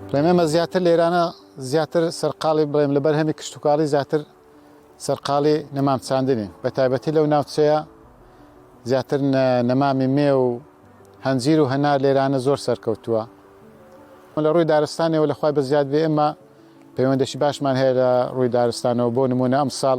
بڵێم ئێمە زیاتر لێرانە زیاتر سەرقاڵی بڵێم لە بەرهەمی کشتتوکاڵی زیاتر سەرقاڵی نەمام چاندنین بە تایبەتی لەو ناوچەیە زیاتر نەمامی مێ و هەنجیر و هەنار لێرانە زۆر سەرکەوتووە لە ڕووی دارستانەوە لەخوای بە زیاد بێ ئێمە پەیوەندەشی باشمان هەیە لە ڕووی دارستانەوە بۆ نمونە ئەم ساڵ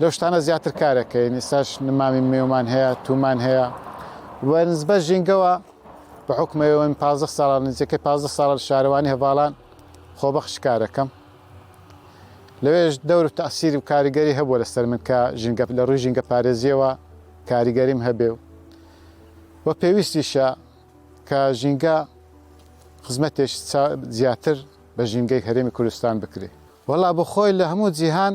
لەو شتانە زیاتر کارەکەین ئیساش نمامی مێومان هەیە تومان هەیە وەرنسبە ژینگەوە بە حکومەوەین پازە ساڵان نزیکە پازە ساڵە شارەوانی هەواڵان خۆبەخش کارەکەم لەوێش دەور و تاسیری و کاریگەری هەبووە لەسەر من کە ژینگە لە ڕووی ژینگە پارێزیەوە کاریگەریم هەبێ و و پێویستیشە کە ژینگە خزمەتێک زیاتر بە ژینگەی هەرێمی کوردستان بکرێ وەڵا بۆ خۆی لە هەموو جیهان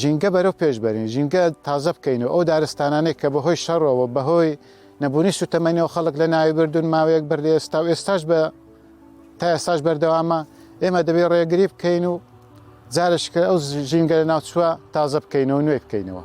ژینگە بەرەو پێش بەرین، ژینگە تازە بکەین و ئەو دارستانانەی کە بەهۆی شەڕەوە، بەهۆی نەبوونی سووتەمەنیەوە خەڵک لەناوی بردوون، ماوەیەک بەر لە ئێستا و ئێستاش بە تا ئێستاش بەردەوامە، ئێمە دەبێت ڕێگری بکەین و جارشکە ئەو ژینگە لە ناوچووە تازە بکەینەوە نوێ بکەینەوە.